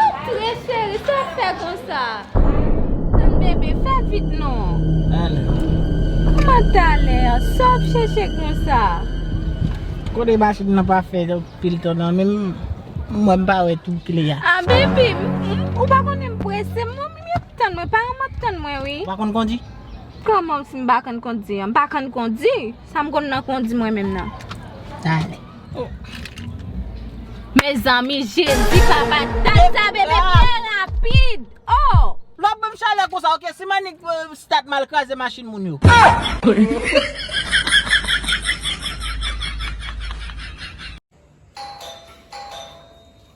Antre cheri sa wap fè konsa. Ann bebe fè vit non. Kouman talè an sa wap chèche konsa. Kote machin nan pa fè pil tan nan menm m wè m pa wè tou kle a. Ah bebe ou pa konnen m prese m wè moun yo ap tann mwen paran m ap tann mwen wi. Ou pa konn kondi? Kòman si m pa konn kondi an m pa konn kondi. Sam konn nan kondi mwen menm nan. Dale. Mezanmi jezi papa tata bebe trè rapid oh. Lap banm chalè konsa ok si manik start mal kraze machin moun yo.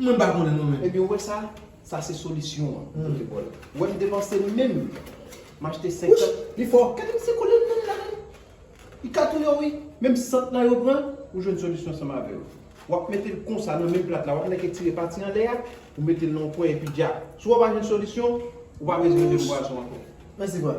Mwen pa konnen non men. Ebyen ou wè sa, sa se solisyon an ou te bòl. Ou wèm te panse menm machte 50. Wouch! Li fò! Gadem se koulye menm la menm. Li ka touye w wi. Menm sant la yo pran, ou jwenn solisyon ansanm avè yo. Wap mete l konsa nan menm plat la, wap nèk etire pati anlè a, ou mete l nan yon kwen epi dja. Si w pa jwenn solisyon, ou pa bezwen menm bwason ankò. Mèsi frè.